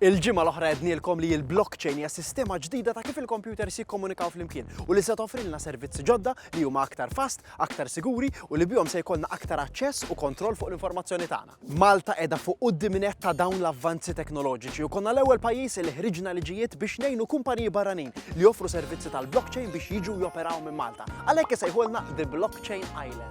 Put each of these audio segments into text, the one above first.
Il-ġimgħa l-oħra għednielkom li l-blockchain hija sistema ġdida ta' kif il-kompjuters jikkomunikaw flimkien u li se toffrilna servizzi ġodda li huma aktar fast, aktar siguri u li bihom se jkollna aktar aċċess u kontroll fuq l-informazzjoni tagħna. Malta qiegħda fuq quddiemnett ta' dawn l-avvanzi teknoloġiċi u konna l-ewwel pajjiż li ħriġna liġijiet biex ngħinu kumpaniji barranin li joffru servizzi tal-blockchain biex jiġu joperaw minn Malta. Għalhekk isejħulna The Blockchain Island.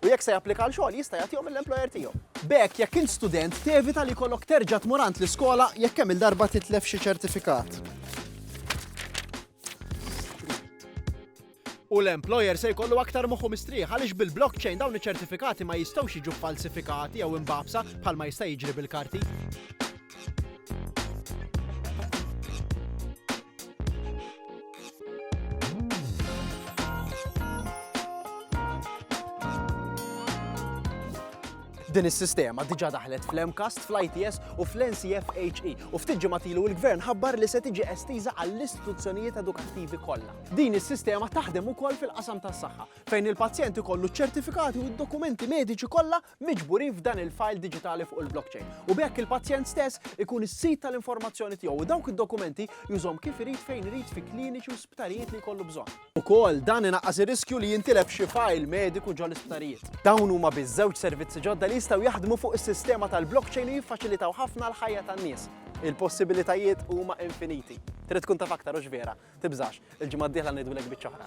u jekk se japplika għal xogħol jista' jagħtihom lill-employer tiegħu. B'hekk, jekk int student, tevita li jkollok terġa' tmur għand l-iskola jekk kemm-il darba titlef xi ċertifikat. U l-employer se jkollu aktar moħħu mistrieħ għaliex bil-blockchain dawn iċ-ċertifikati ma jistgħux jiġu ffalsifikati jew imbagħbsa bħalma jista' jiġri bil-karti. Din is-sistema diġa daħlet fl-MCAST, fl-ITS u fl-NCFHE u ftit ġematilu il-Gvern ħabbar li se tiġi estiża għall-istituzzjonijiet edukattivi kollha. Din is-sistema taħdem ukoll fil-qasam tas-saħħa fejn il-pazjent ikollu ċertifikati u d-dokumenti mediċi kollha miġburin f'dan il-fajl diġitali fuq il-blockchain, u b'hekk il-pazjent stess ikun is-sid tal-informazzjoni tiegħu u dawk id-dokumenti jużhom kif irid fejn irid fi kliniċi u sptarijiet li jkollu bżonn. Ukoll, dan inaqqas ir-riskju li jintilef xi fajl mediku ġol-isptarijiet. Dawn huma biss żewġ servizzi ġodda li jistgħu jaħdmu fuq is-sistema tal-blockchain u jiffaċilitaw ħafna l-ħajja tan-nies. Il-possibilitajiet huma infiniti. Trid tkun taf aktar, hux vera? Tibżax, il-ġimgħa d-dieħla ngħidulek biċċa oħra.